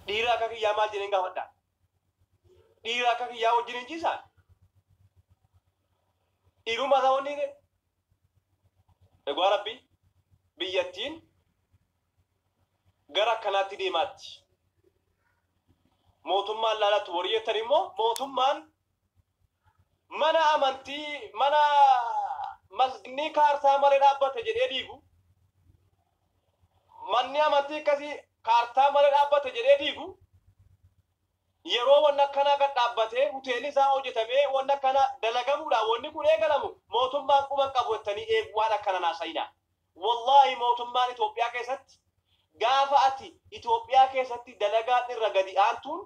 Dhiira akka kiyyaa maal jedheen gaafadha? Dhiira akka kiyyaa wajjin hin ciisaa? Dhiirummaa isaa wanni hidhe? Dhugaa rabbii biyyattiin gara akkanaatti deemaatti. Mootummaan laalatti warri jettan immoo mootummaan mana amantii mana masginnii kaartaa malee dhaabbate jedhee diigu manni amantii akkasii kaartaa malee dhaabbate jedhee diigu yeroo wanni akkanaa gad dhaabbatee hoteelli isaa hojjetamee wanni akkana dalagamuudha wanni kun eegalamu mootummaan quban qabu jettanii eegu waan akkana naasayina wallaahi mootummaan Itoophiyaa keessatti gaafa ati Itoophiyaa keessatti dalagaan irra gadi aantuun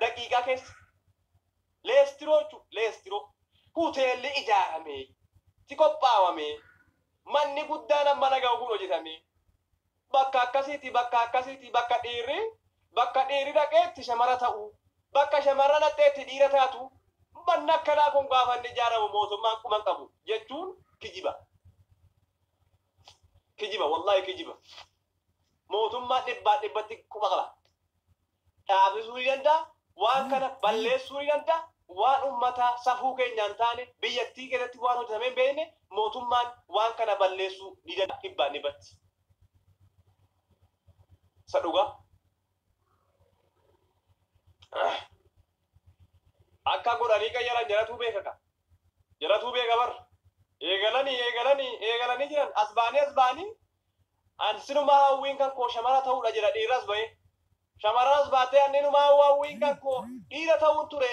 daqiiqaa keessa leestiroo jechuun leestiroo huteelli ijaaramee ti qophaawamee manni guddaan amma dhaga'u kun hojjetamee bakka akkasiiti bakka akkasiiti bakka dhiirri bakka dhiirri dhaqeetti shamara ta'u bakka shamarra dhaqxeetti dhiira taatu manni akkanaa kun gaafa inni ijaaramu mootummaan quban qabu jechuun kijiba. Kijiba wallahi kijiba. Mootummaan dhibbaan dhibbatti quba qaba. dhaabisuu ni danda'a, waan kana balleessuu ni danda'a, waan ummataa safuu keenyaan taane biyyattii keessatti waan hojjetamee hin beekne mootummaan waan kana balleessuu ni danda'a dhibbaan dhibbatti. Isa dhugaa. Akka godhanii qayyaran jaratuu beeka ka. Jaratuu beeka bar. Eegalanii eegalanii eegalanii jiran as ba'anii as ba'anii An sinumaa hawwiin kan koo shamara ta'uudha jedha dhiirras ba'ee. Shamarranas baattee anni inumaa hawwa hawwiin kan koo dhiira ta'uun ture.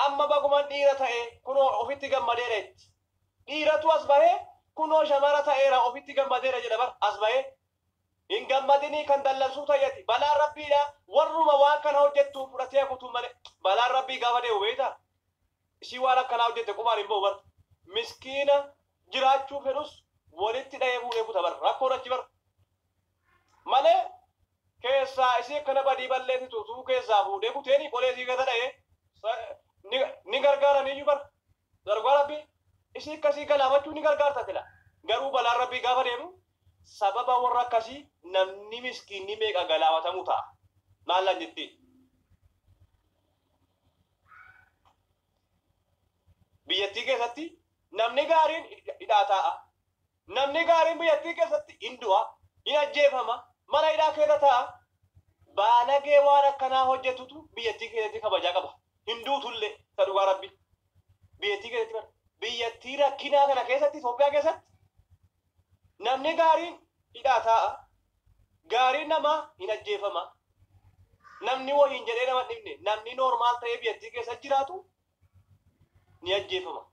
Amma baguman dhiira ta'e kunoo ofitti gammadeera jetti. Dhiiratu as bahee kunoo shamara ta'eera ofitti gammadeera jedha bar as bahee. Hin gammadinii kan dallansuu ta'i ati. Balaan Rabbiidha warruma waan kana hojjettuun fudhatee hafutu malee. Balaan Rabbii gaafa deemu beektaa? Ishiin waan akkanaa hojjette qubaan hin ba'u bar. Miskiina jiraachuu fedhus walitti dhahee fuudhee kuta bar rakkoon achi bar malee keessaa isii akkana badii balleessitu utuu keessaa fuudhee kuteeni qolee isii keessa dhahee sa- ni- ni gargaaraniyyuu bar dargaa rabbii isii akkasii galaafachuu ni gargaarta sila garuu balaan rabbii gaafa deemu sababa warra akkasii namni miskiinni meeqa galaafatamu ta'a maallan jettiin biyyattii keessatti namni gaariin hidhaa taa'a. Namni gaariin biyyattii keessatti hin du'a, hin ajjeefama, mana hidhaa keessa taa'a. Baalagee waan akkanaa hojjetutu biyyattii keessatti kabajaa qaba. Hin duutullee isa dhugaa rabbi. Biyyattii keessatti bara. Biyyattii rakkinaa kana keessatti Itoophiyaa keessatti namni gaariin hidhaa taa'a, Gaariin namaa hin ajjeefamaa. Namni wohiin jedhee nama hin dhibne, namni normal ta'ee biyyattii keessa jiraatu ni ajjeefama.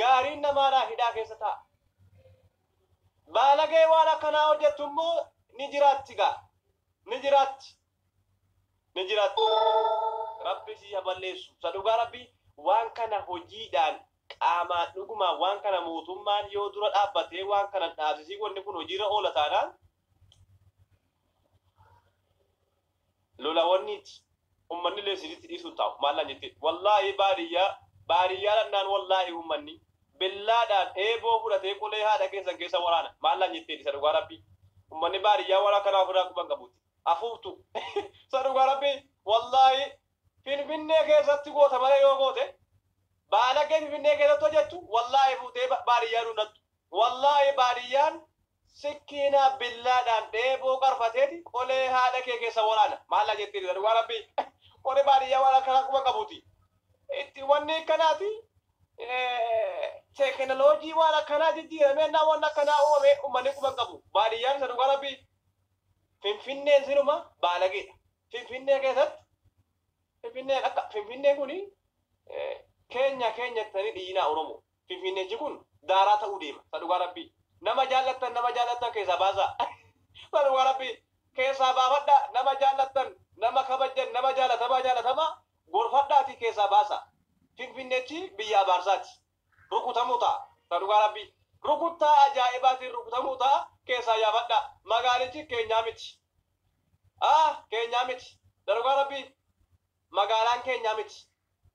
Gaariin namaadhaa hidhaa keessa taa'a. Baalagee waan akkanaa hojjettu immoo ni jiraatti gaa. Ni jiraatti. ni jiraattu rabbi sii ha balleessu sa dhugaa rabbi waan kana hojiidhaan qaamaan dhugumaan waan kana mootummaan yoo dura dhaabbatee waan kana hin dhaabsisiin wanni kun hojiirra oola taanaan lola wanniiti ummanni illee sirriitti dhiisuu hin taa'u maallaan jettee wallaahi baadiyyaa baadiyyaa dhannaan wallaahi ummanni billaadhaan eeboo fudhatee qolee haadha keessan keessa waraana maallaan jettee isa dhugaa rabbi ummanni baadiyyaa waan akkanaa ofirraa quban qabuuti afuuftu sa dhugaa rabbii wallaahi finfinnee keessatti goota malee yoo goote baalagee finfinnee keessatti hojjettu wallaahi fuutee ba- baadiyyaa dunnattu wallaahi baadiyyaan sikkiinaa billaadhaan dheeboo qarfateeti qolee haadha kee keessa waraana maallaa jettiin sa dhugaa rabbii warri baadiyyaa waan akkanaa quba qabuti itti wanni akkanaati teeknoloojii waan akkanaa jijjiiramee naa waan akkanaa uumamee uummanni quba hin qabu baadiyyaan isa dhugaa rabbii Finfinneen silumaa baalageedha. Finfinnee keessatti Finfinneen akka Finfinneen kun keenya keenya jettanii dhiyyinaa Oromoo. Finfinneechi kun daaraa ta'uu deema. Isa dhugaa rabbii. Nama jaallattan nama jaallattan keessaa baasaa. Isa dhugaa rabbii. Keessaa baafadhaa nama jaallattan nama kabajjan nama jaallatamaa jaallatamaa gorfadhaatii keessaa baasaa. Finfinneechi biyya abaarsaati. rukutamuu ta'a. Isa dhugaa Rabbii. Rukuttaa ajaa'ibaatiin rukutamuu ta'a, keessaa yaafadhaa. Magaalichi keenyaa miti. A, keenyaa miti. Isa dhugaa Rabbii. Magaalaan keenyaa miti.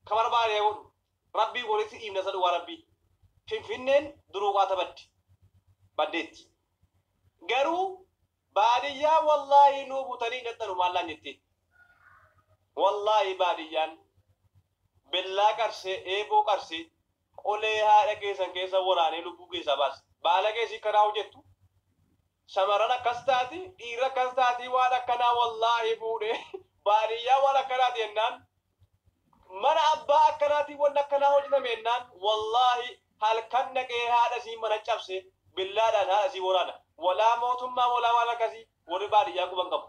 Ka barbaade haa godhu. Rabbiif walitti dhiifna isa dhugaa Rabbii. Finfinneen duruu qaata badde. Baddeetti. Garuu Baadiyyaa wallahi nuu butanii hin dhaxxanu maallaan jetti wallahi baadiyyaan bellaa qarsee eeboo qarsee qolee haadha keessan keessa waraanee lubbuu keessaa baasa baalagee isii kanaa hojettu shamarran akkas taati dhiirri akkas taatii waan akkanaa wallahi fuudhee baadiyyaa waan akkanaati jennaan Mana abbaa akkanaatii wanni akkanaa hojjatame ennaan wallaahi halkan dhaqee haadha isii mana cabsee billaadhaan haadha isii woraana. Wolaa mootummaa wolaa waan akkasii worri baadiyyaa quba hin qabu.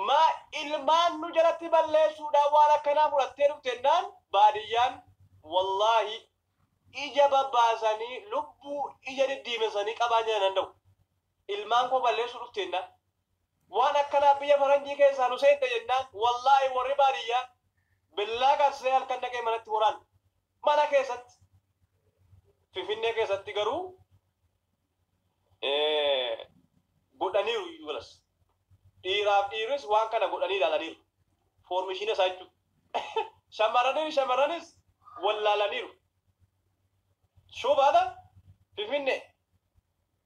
Maa ilmaan nu jalatti balleessuudhaaf waan akkanaa fudhattee dhufte ennaan baadiyyaan wallaahi ija babbaasanii lubbuu ija diddiimessanii qabaan jala hin danda'u. ilmaan koo balleessuu dhufte jennaan waan akkanaa biyya faranjii keessaa nu seente jennaan wallaahi warri baadiyyaa billaa kaasisee halkan dhaqee manatti waraana mana keessatti finfinnee keessatti garuu godhaniiru iyyuu galas dhiiraaf dhiirris waan kana godhanii ilaalaniiru foormishiina isaa jechuudha shamarraniin shamarranis wallaalaniiru shubaadha finfinnee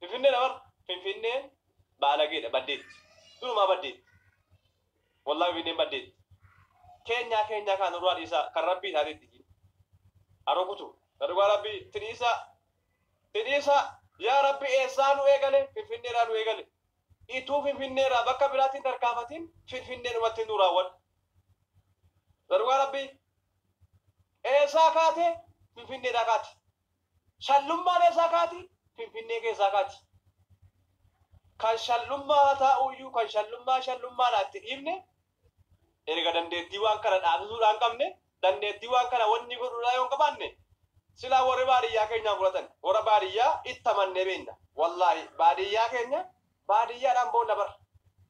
Finfinnee dha bar. Finfinneen baalageedha baddeetti. Durumaa baddeetti. Wallahi Finfinneen baddeetti. Keenyaa keenyaa kaa nurraa dhiisaa kan rabbii taatee itti jiin. Haroo kutuu. Na dhugaa rabbii itti dhiisaa. Itti dhiisaa. Yaa rabbi eessaa nu eegale Finfinnee irraa nu eegale. Ituu Finfinnee irraa bakka biraatti hin tarkaafatiin Finfinnee dhumatti nu raawwadhu. Na dhugaa rabbii. Eessaa kaate Finfinnee irraa kaate. Shallummaan eessaa kaati? Finfinnee keessaa kaati. Kan shallummaa haa taa'uu iyyuu kan shallummaa shallummaadha itti dhiifne erga dandeettii waan kana dhaabsisuudhaa hin qabne dandeettii waan kana wanni godhuudhaa yoo hin qabaanne silaa warri baadiyyaa keenyaan fudhatan warra baadiyyaa itti amannee beekna wallaahi baadiyyaa keenya baadiyyaadhaan boonna bar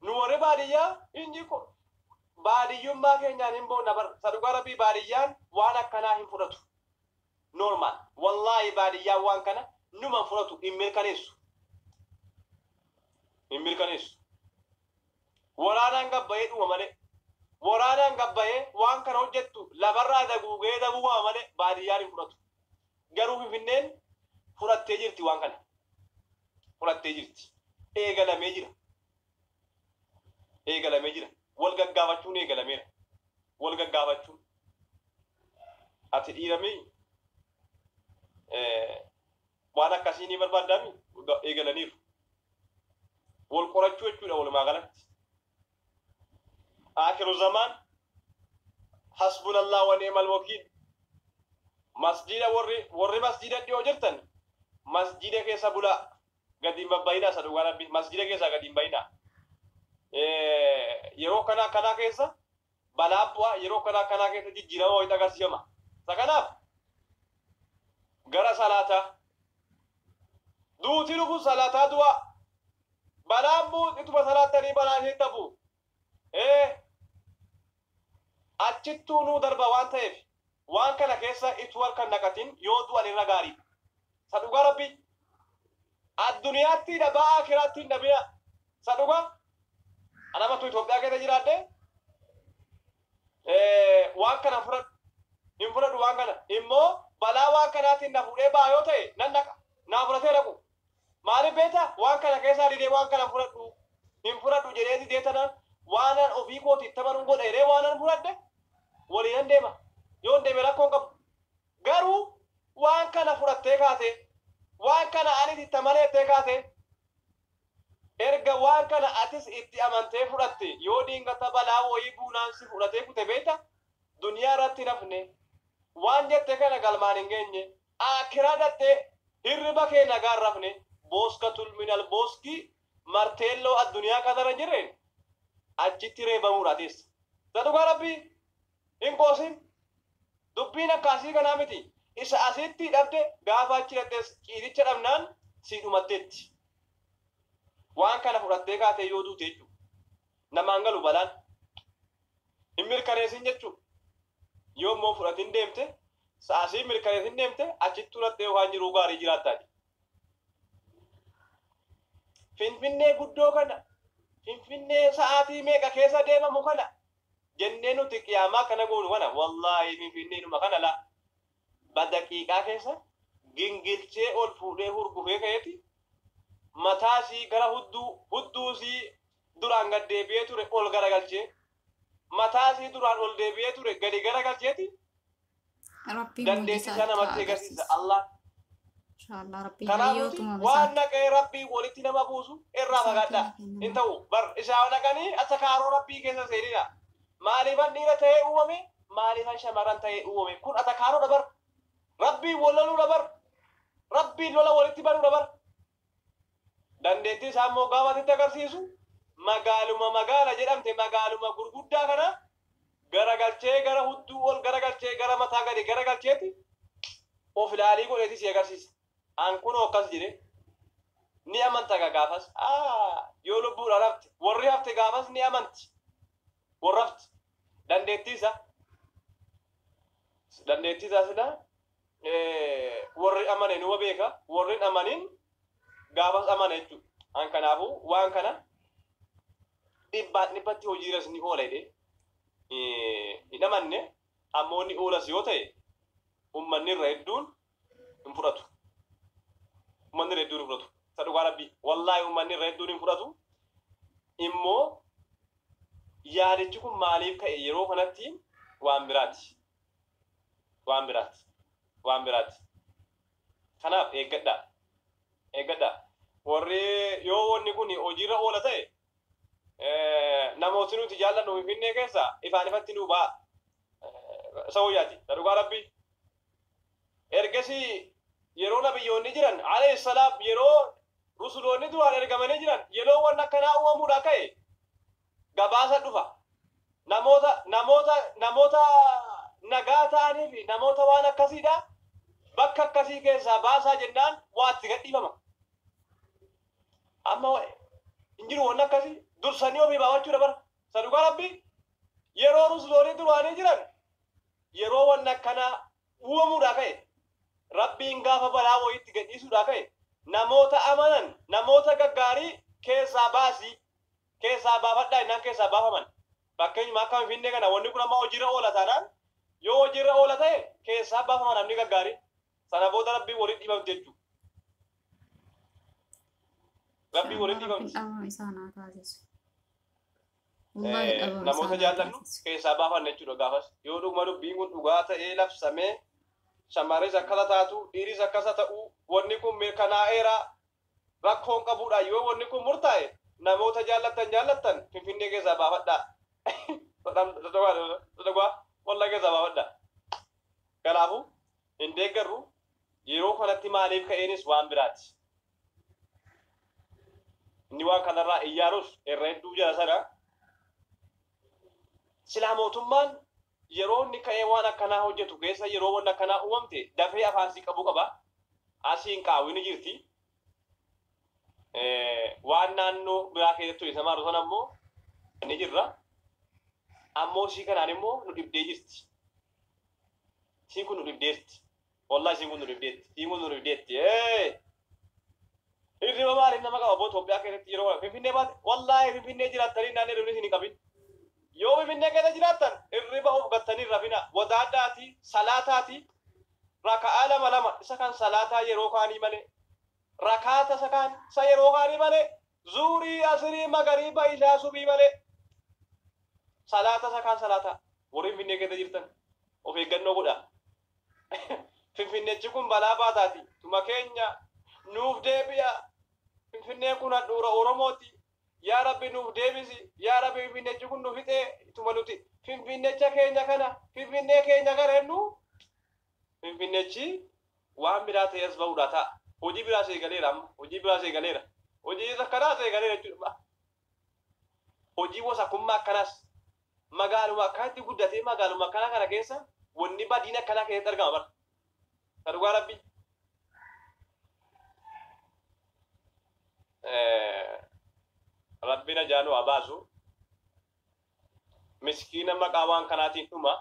nu warri baadiyyaa inni ko- baadiyyummaa keenyaan hin boonna bar isa dhugaa rabbii baadiyyaan waan akkanaa hin fudhatu normal wallahi baadiyyaa waan kana numan fudhatu hin mirkaneessu hin mirkaneessu waraanaan gabbayee dhuma malee waraanaan gabbayee waan kana hojjettu lafarraa daguugee daguugama malee baadiyyaan hin fudhatu garuu finfinneen fudhattee jirti waan kana fudhattee jirti eegalamee jira eegalamee jira. Wal gaggaafachuun eegalameera. Wal gaggaafachuun. Ati dhiiramii waan akkasii ni barbaaddaami eegalaniiru. Wal qorachuu jechuudha walumaa galatti. Aakiru zamaan hasbunallah wa ni'mal wakiil. Masjiida warri warri masjiida dhiyoo jirtan masjiida keessa bulaa. gadi hin babbayinaa sa dhugaa rabbi masjida keessaa gadi hin bayinaa yeroo kanaa kanaa keessa balaa bu'aa yeroo kanaa kanaa keessa jijjiirama wayita agarsiifama sa kanaaf gara salaataa duuti dhufu salaataa du'aa balaan bu'u ituma salaattanii balaa isheetti hafu Ee, achittuu nuu darba waan ta'eef waan kana keessa ituu harka hin naqatin yoo du'an irra gaariidha. Sa dhugaa rabbii. Adduniyaattii dhabaa aakiraattii hin dhabinaa. Sa dhugaa. An amma utuu Itoophiyaa keessa jiraadhee waan kana hin fudhadhu. Hin fudhadhu waan kana. Immoo balaa waan kanaatiin na fuudhee ba'a yoo ta'e nan dhaqa. Naa fudhatee dhaqu. Maalif beeta waan kana keessaa didee waan kana fudhadhu hin fudhadhu jedhee didee tanaan waanan ofii kooti itti amanun godha jedhee waanan fudhadhe waliinan deema yoon deeme rakkoon qabu garuu waan kana fudhattee kaatee waan kana anis itti amane jettee kaatee erga waan kana atis itti amantee fudhatte yoo dingata balaa wayii buunaan si fudhatee kute beeta duniyaa irratti hin hafne waan jette kana galmaan hin geenye Aakkiraa dhaxxee hirriba kee nagaa hin rafne booska tulminal booski marteelloo adduniyaa kanarra hin jirreen achitti reebamuudhaa teessa ta dhugaa rabbii hin qoosin dubbiin akkaasii kanaa miti isa asitti dhabde gaafa achi dhaxxees ciisicha dhabnaan sii dhumatteetti waan kana fudhattee kaatee yoo duute jechuu namaan galu balaan hin mirkaneesin jechuu Yoo immoo fudhatin deemte, sa'a sii mirkaneessin deemte, achittuu laphee yookaan jiruu gaarii jiraattaa jedhe. Finfinnee guddoo kana, Finfinnee sa'aatii meeqa keessa deemamu kana jennee nuti qiyaamaa kana goonu kana wallaahi Finfinneenuma kana laa badaqiiqaa keessa gingilchee ol fuudhee hurgufee ka'eeti mataa isii gara hudduu, hudduu isii duraan gad deebi'ee ture ol garagalchee, mataa isii duraan ol deebi'ee ture gadi garagalcheeti Rabbiin dandeettii isaa namatti agarsiisa Allah. Inshallah Rabbiin Kanaaf nuti hayyootuma waan naqee rabbii walitti nama buusu irraa fagaadha. Hin ta'u bar isaa naqanii akka kaaroo rabbii keessa seenina. Maaliifan dhiira ta'ee uumame maaliifan shamarran ta'ee uumame kun atakaaroo dabar rabbii wal loluu dabar rabbii lola walitti banuu dabar Dandeettii isaa immoo gaafa sitti agarsiisu magaaluma magaala jedhamte magaaluma gurguddaa kana garagalchee gara hudduu ol garagalchee gara mataa gadi garagalcheeti of ilaalii godheeti si agarsiisa. An kunoo akkas jedhe ni amanta gaa gaafas yoo lubbuudhaan hafte warri hafte gaafas ni amanti warra hafte dandeettii isaa dandeettii isaa silaa worri amane numa beeka worri hin amanin gaafas amana jechuudha. An kanaafuu waan kana dhibbaan dhibbatti hojiirras ni oola jedhee hin amanne ammoo ni oolas yoo ta'e ummanni irra hedduun hin fudhatu. Ummanni irra hedduun hin fudhatu. Isa dhugaa rabbii wallaahi ummanni irra hedduun hin fudhatu. Immoo yaadichi kun maaliif ka'e yeroo kanatti waan biraati. waan biraati. Waan biraati. Kanaaf eeggadhaa. Eeggadhaa. Warri yoo wanni kun hojiirra oola ta'e namooti nuti jaallannu Finfinnee keessa ifaan ifatti nuu ba'a. Isa wayyaati. Isa dhugaa Rabbii. Ergasii yeroo nabiyyoonni jiran alayhi salaam yeroo rusuloonni duraan ergamanii jiran yeroo wanni akkanaa uumamuudhaa ka'e gabaasa dhufa. Namoota namoota namoota nagaa ta'anii fi namoota waan akkasiidha bakka akkasii keessaa baasaa jennaan waa itti gadhiifama. Amma hin jiru wanni akkasii dursanii ofii baafachuudha bara. Isa dhugaa rabbii yeroo rusuloonii duraanii jiran yeroo wanni akkanaa uumamuudhaa ka'e rabbiin gaafa balaa wayiitti gadhiisuudhaa ka'e namoota amanan namoota gaggaarii keessaa baasii keessaa baafadhaa jennaan keessaa baafaman. Fakkeenyuma akka Finfinnee kana wanni kun amma hojiirra oola taanaan yoo hojiirra oola ta'e keessaa baafama namni gaggaarii. Sana booda Rabbiin walitti dhibamti jechuudha. Rabbiin walitti dhibamti. Dhabama isaa naa taasisu. Wallaahi Eh, dhabama isaa Namoota naa jaallannu taasisu. keessaa baafanna jechuudha gaafas. Yoo dhuguma dubbiin kun dhugaa ta'ee labsamee shamarris akkasa taatu dhiiris akkasa ta'u wanni kun mirkanaa'eera Rakkoon qabuudhaa yoo wanni kun murtaa'e namoota jaallattan jaallattan finfinnee keessaa baafadhaa dadhagaa hollaa keessaa baafadhaa kanaafu hin deeggarru yeroo kanatti maaliif ka'eenis waan biraati inni waan kanarraa iyyaarus irra hedduu jala sana silaa mootummaan Yeroo inni ka'ee waan akkanaa hojjatu keessa yeroo wanni akkanaa uumamte dafee afaan sii qabuu qaba. Asiin qaawwi ni jirti. Waan naannoo biraa keessatti isa maaru sana immoo ni jirra. Ammoo isii kanaan immoo nu dhibdee jirti. Isiin kun nu dhibdeerti. Wallahi siin kun nu dhibdeetti. Siin kun nu dhibdeetti. Hirriba maaliif nama qaba boo Itoophiyaa keessatti yeroo kana Finfinnee baate wallahi Finfinnee jiraattanii naannoo hirribni isin hin qabin. Yoo Finfinnee keessa jiraattan hirriba of gattanii hin rafina. Wadaadhaati, salaataati, raka'aa lama lama isa kan salaataa yeroo kaanii malee rakaata isa kaan isa yeroo kaanii malee zuurii asirii magariiba ishaa subii malee salaata isa kaan salaataa warri Finfinnee keessa jirtan of eeggannoo godhaa. Finfinnechi kun balaa baataati. Tuma keenya nuuf deebi'a. Finfinneen kun handhuura Oromooti. Yaa Rabbi nuuf deebisi. Yaa Rabbi Finfinnechi kun nu fixee. Tuma nuti Finfinnecha keenya kana, Finfinnee keenya kana jennu Finfinnechi waan biraa ta'ee as ba'uudhaa ta'a. Hojii biraas eegaleera amma. Hojii biraas eegaleera. Hojii isa kanaas eegaleera jechuudha. Hojii wasakummaa akkanaas magaaluma akkanatti guddatee magaaluma akkanaa kana keessa wanni badiin akkanaa keessatti argama bar. Ka dhugaa rabbii. Rabbiin ajaa nu haa baasu. miskiina maqaa waan kanaatiin dhuma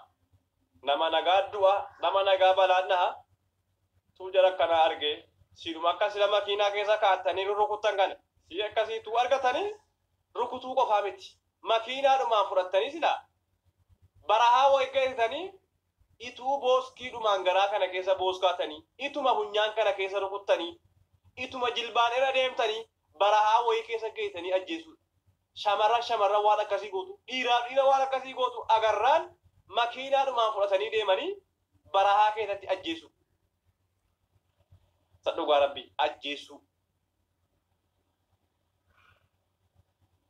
nama nagaa du'a nama nagaa balaan dhaha tuu jara akkanaa arge siidhuma akka sila makiinaa keessa kaa'attanii rurrukuttan kana sii akkasii tuu argatanii rukutuu qofaa miti makiinaadhumaan fudhattanii sila barahaa wayi geessitanii ituu booskiidhumaan garaa kana keessa booskaatanii ituma funyaan kana keessa rukuttanii ituma jilbaan irra deemtanii barahaa wayii keessa geessanii ajjeesuudha. Shamarran shamarran waan akkasii gootu, dhiiraaf dhiira waan akkasii gootu agarraan makiinaadhumaan fudhatanii deemanii barahaa keessatti ajjeesuu. Sa dhugaa rabbii ajjeessuu.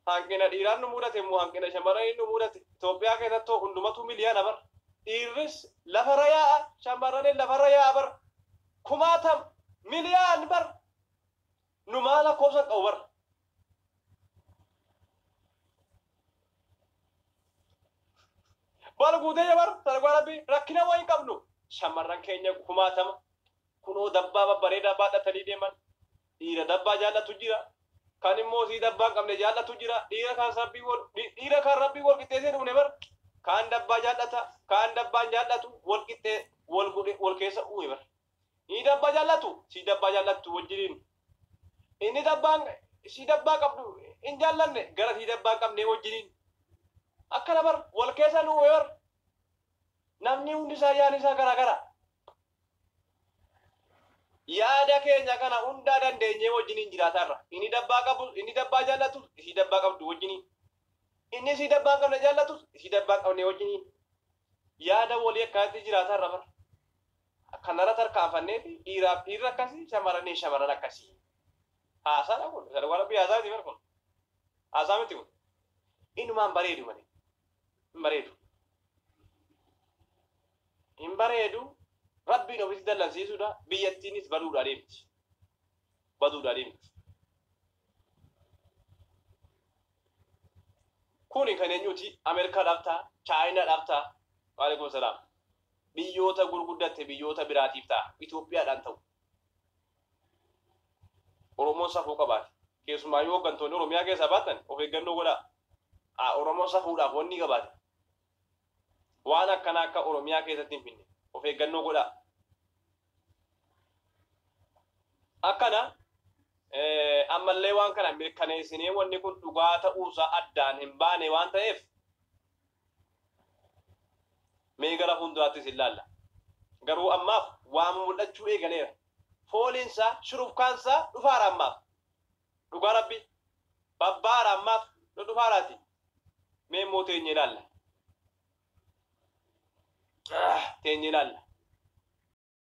Hanqina dhiiraan nu mudate immoo hanqina shamarranii nu mudate. Itoophiyaa keessatti hoo hundumatu miliyaana bara. Dhiirris lafarra yaa'a, shamarranis lafarra yaa'a bara. Kumaatam miliyaan bara. Numaa lakkoofsa hin qabu bara. Bara guutee yoo bara sana dhugaa rabbi rakkina waa hin qabnu. Shamarran keenya kumaatama kunoo dabbaa babbareedaa baadhatanii deeman dhiira dabbaa jaallatu jira. Kan immoo sii dabbaa hin qabne jaallatu jira. Dhiira kan rabbii wal dhiira kan rabbii wal qixxeessee uumne bara. Kaan dabbaa jaallata kaan dabbaa hin jaallatu wal qixxee wal godhe wal keessa uume bara. Ni dabba jallatu si dabba jallattu wajjiniin inni dabbaan si dabbaa qabdu hin jallanne gara si dabbaan qabnee wajjiniin akkana bar wal keessa nu bar namni hundi isaa yaani isaa garaa gara yaada keenya kana hundaa dandeenyee wajjiniin jiraataa irra inni dabbaa qabu inni dabbaa jallatu si dabbaa qabdu wajjiniin inni si dabbaan qabne jallatu si dabbaan qabne wajjiniin Yaada wolii akkanatti jiraata irra bar. Akkanarra tarkaanfanneeti dhiiraaf dhiirri akkasi shamarraniif shamarran akkasi. Haasaadha kun isa dhugaa rabbii haasaa miti bar kun. Haasaa miti kun. Inumaan bareedu malee. Hin bareedu. Hin bareedu. Rabbiin ofitti dallansiisuudha. Biyyattiinis baduudha adeemti. Baduudha adeemti. Kuni kan enyuti America dhaf ta, China dhaf ta, Walekum salam biyyoota gurguddatte biyyoota biraatiif ta, Ethiopia dhaan ta'u. Oromoon safuu qabaate. Keessumaayyuu hoggantoonni Oromiyaa keessaa baattan of eeggannoo godhaa. Oromoon safuudhaaf wannii qabaate Waan akkanaa akka Oromiyaa keessatti hin finne of eeggannoo godhaa. Akkana ammallee waan kana mirkaneessinee wanni kun dhugaa ta'uusaa addaan hin baane waan ta'eef mee gara fuulduraattis hin laalla. Garuu ammaaf waan mul'achuu eegaleera. Fooliinsaa shurufkaansaa dhufaara ammaaf. Dhugaa rabbi babba'aara ammaaf nu dhufaaraati mee immoo teenye ilaalla teenye ilaalla.